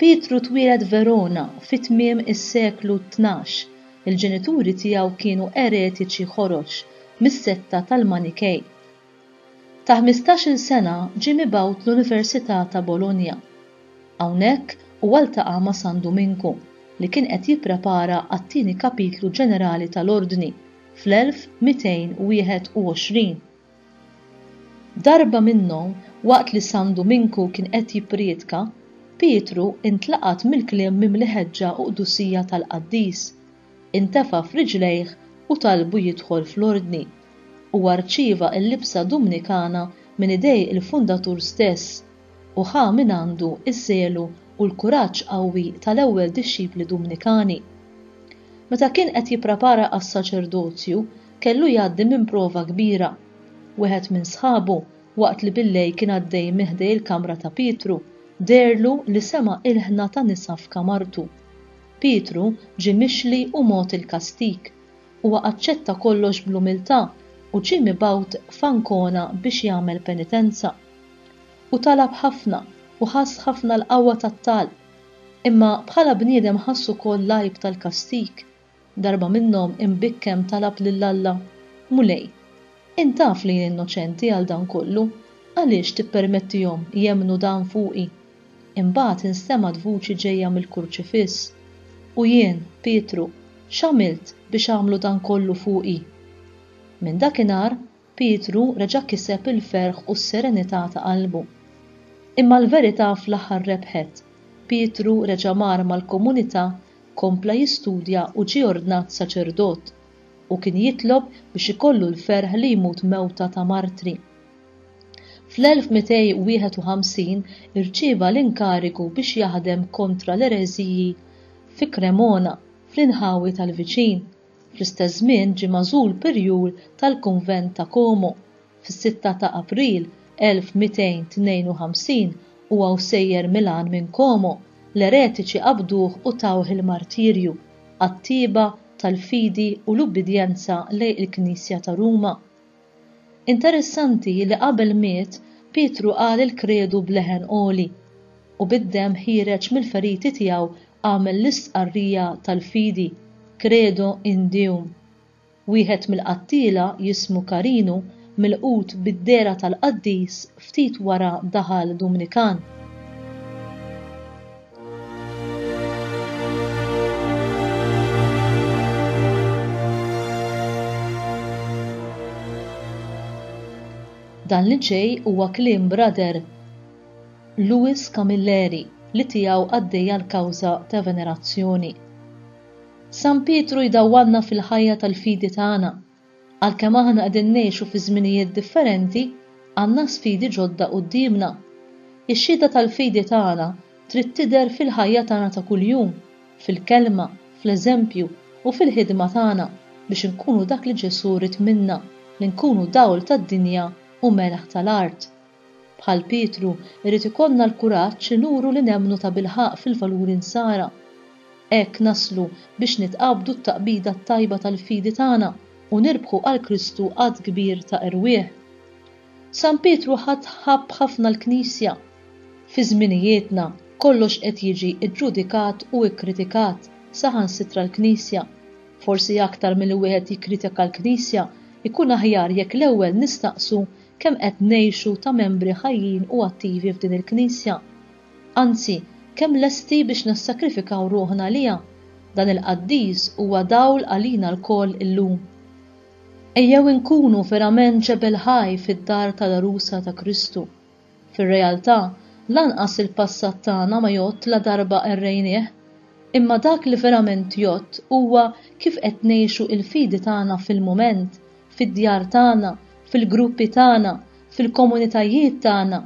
Pietru twieled Verona fi tmiem is-seklu tnax. Il-ġenituri tiegħu kienu eretiċi ħorox mis-setta tal-Manikej. Ta' ħmistax-il sena ġie mibgħut l-Università ta' Bologna. Hawnhekk huwa ltaqa' ma' San Duminku, li kien qed jipprepara għat-tieni kapitlu ġenerali tal-Ordni fl-1221. Darba minnhom, waqt li San Duminku kien qed jippriedka, Pietru intlaqat mill-kliem mimli ħeġġa u qdusija tal-qaddis. Intefa' f'riġlejh u talbu jidħol fl-ordni. Huwa rċieva l-libsa Dumnikana minn idej il-fundatur stess u ħa mingħandu ż-żelu u l-kuraġġ qawwi tal-ewwel dixxipli Dumnikani. Meta kien qed jipprepara għas-saċerdozju, kellu jgħaddi minn prova kbira. Wieħed minn sħabu, waqt li bil-lejl kien għaddej minn ħdej il-kamra ta' Pietru, deherlu li sema' ilħna ta' nisa f'kamartu. Pietru ġie mixli u mogħti l-kastig. Huwa aċċetta kollox bl-umiltà u ġie mibgħut f'Ancona biex jagħmel penitenza. Hu talab ħafna u ħass ħafna l-qawwa tat-talb. Imma bħala bniedem ħass ukoll l-għajb tal-kastig Darba minnhom imbikkem talab lil Alla, Mulej, int taf li jien innoċenti għal dan kollu, għaliex tippermettihom jemmnu dan fuqi? Imbagħad instemgħet vuċi ġejja mill-kurċifiss, U jien, Pietru, x'għamilt biex għamlu dan kollu fuqi? Minn dakinhar Pietru reġa' kiseb il-ferħ u s-serenità ta' qalbu. Imma l-verità fl-aħħar rebħet. Pietru reġa' mar mal-komunità, kompla jistudja u ġie ordnat saċerdot. Hu kien jitlob biex ikollu l-ferħ li jmut mewta ta' martri. Fl-1251 irċieva l-inkarigu biex jaħdem kontra l-ereżiji fi Cremona, fl-inħawi tal-viċin. Fl-istess żmien ġie magħżul Pirjur tal-Kunvent ta' Como. Fis-sitta ta' April 1252, u hawn sejjer Milan minn Como, l-eretiċi qabduh u tawh il-martirju għat-tjieba tal-fidi u l-ubbidjenza lejn il-Knisja ta' Ruma. Interessanti li qabel miet Pietru qal il-kredu b'leħen għoli, u bid-demm ħiereġ mill-feriti tiegħu għamel l-istqarrija tal-fidi, Credo in Deum. Wieħed mill-qattiela jismu Carinu milqut bid-dehra tal-qaddis ftit wara daħal Dumnikan. Dan li ġej huwa kliem brother Louis Camilleri li tiegħu għaddejja l-kawża ta' venerazzjoni. San Pietru jdawwanna fil-ħajja tal-fidi tagħna Għalkemm aħna qegħdin ngħixu fi żminijiet differenti, għandna sfidi ġodda quddiemna. Ix-xhieda tal-fidi tagħna trid tidher fil-ħajja tagħna ta' kuljum, fil-kelma, fl-eżempju, u fil-ħidma tagħna biex inkunu dak li Ġesù ried minna, li nkunu dawl tad-dinja u melħ tal-art. Bħal Pietru, irid ikollna l-kuraġġ li nuru li nemmnu tabilħaqq fil-valuri Nsara. Hekk naslu biex nitqabdu t-taqbida t-tajba tal-fidi tagħna u nirbħu għal Kristu għadd kbir ta' erwieħ. San Pietru ħadd ħabb ħafna l-Knisja. Fi żminijietna, kollox qed jiġi ġġudikat u kkritikat, saħansitra l-Knisja. Forsi aktar milli wieħed jikkritika l-Knisja, ikun aħjar jekk l-ewwel nistaqsu Kemm qed ngħixu ta' membri ħajjin u attivi f'din il-Knisja? Anzi, kemm lesti biex nissakrifikaw ruħna għaliha? Dan il-qaddis huwa dawl għalina lkoll illum. Ejjew inkunu verament ġebel ħaj fid-dar tal-għerusa ta' Kristu. Fir-realtà, lanqas il-passat tagħna ma jgħodd la darba qerrejnieh. Imma dak li verament jgħodd huwa kif qed ngħixu l-fidi tagħna fil-mument, fid-djar tagħna, fil-gruppi tagħna, fil-komunitajiet tagħna,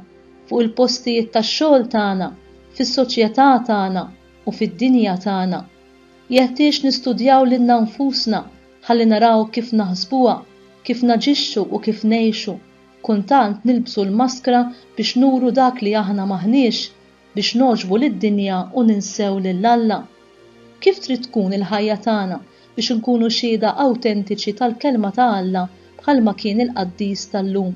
fuq il-postijiet tax-xogħol tagħna, fis-soċjetà tagħna u fid-dinja tagħna. Jeħtieġ nistudjaw lilna nfusna ħalli naraw kif naħsbuha, kif naġixxu u kif ngħixu. Kuntant nilbsu l-maskra biex nuru dak li aħna m'aħniex. biex nogħġbu lid-dinja u ninsew lil Alla? Kif trid tkun il-ħajja tagħna biex inkunu xhieda awtentiċi tal-Kelma ta' Alla bħalma kien il-qaddis tal-lum?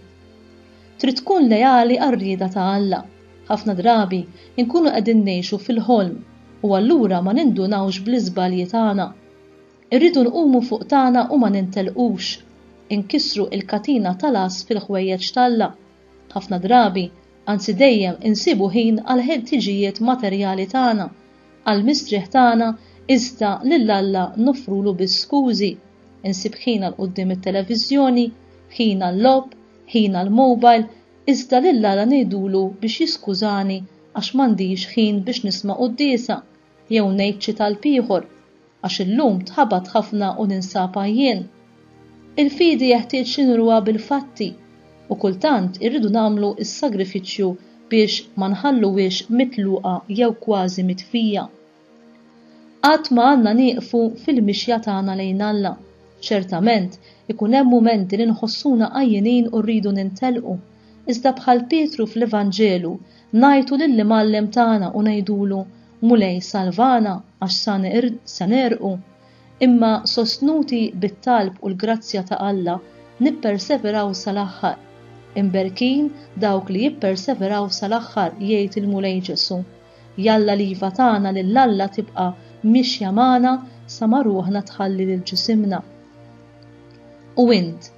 Trid tkun leali għar-rieda ta' Alla. Ħafna drabi nkunu qegħdin ngħixu fil-ħolm u allura ma nindunawx bl-iżbalji tagħna. Irridu nqumu fuq tagħna u ma nintelqux. Inkissru il-katina tal-għażż fil-ħwejjeġ t'Alla. Ħafna drabi, anzi dejjem, insibu ħin għall-ħtiġijiet materjali tagħna, għall-mistrieħ tagħna iżda lil Alla noffrulu biss skużi. Insib ħin għal quddiem it-televiżjoni, ħin għal-logħob, ħin għall-mobile, iżda lil Alla ngħidulu biex jiskużani għax m'għandix ħin biex nisma' quddiesa, Jew ngħid xi talb ieħor, għax illum tħabat ħafna u ninsab għajjien. Il-fidi jeħtieġ li nuruha bil-fatti u kultant irridu nagħmlu s-sagrifiċċju biex ma nħalluhiex mitluqa jew kważi mitfija. Qatt ma għandna nieqfu fil-mixja tagħna lejn Alla. Ċertament, ikun hemm mumenti li nħossuna għajjinin u rridu nintelqu, iżda bħal Pietru fl-Evanġelu, Ngħajtu lill-Imgħallem tagħna u ngħidulu, Mulej salvana għax sa se negħrqu. Imma sostnuti bit-talb u l-grazzja ta' Alla, nipperseveraw sal-aħħar. Imberkin dawk li jipperseveraw sal-aħħar jgħid il-Mulej Ġesu'. Jalla l-iva tagħna lil Alla tibqa' mixja magħna sa ma ruħna tħalli lil ġisimna. U int,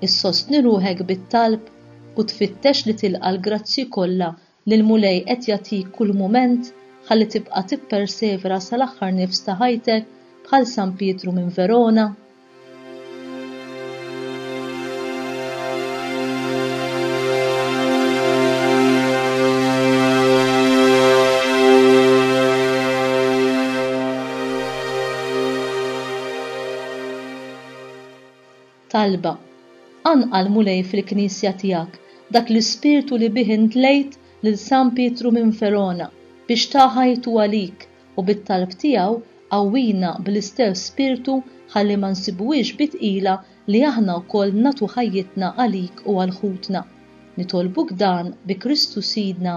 issostni ruħek bit-talb? u tfittex li tilqa' l-grazzji kollha li l-Mulej qed jagħtik kull mument ħalli tibqa' tippersevera sal-aħħar nifs ta' ħajtek bħal San Pietru minn Verona? Talba, Qanqal l-Mulej fil-Knisja tiegħek dak l-ispirtu li bih intlejt lil San Pietru minn Verona biex ta ħajtu għalik u bit-talb tiegħu qawwina bl-istess spirtu ħalli ma nsibuhiex bi tqila li aħna wkoll nagħtu ħajjitna għalik u għal ħutna. Nitolbuk dan bi Kristu Sidna.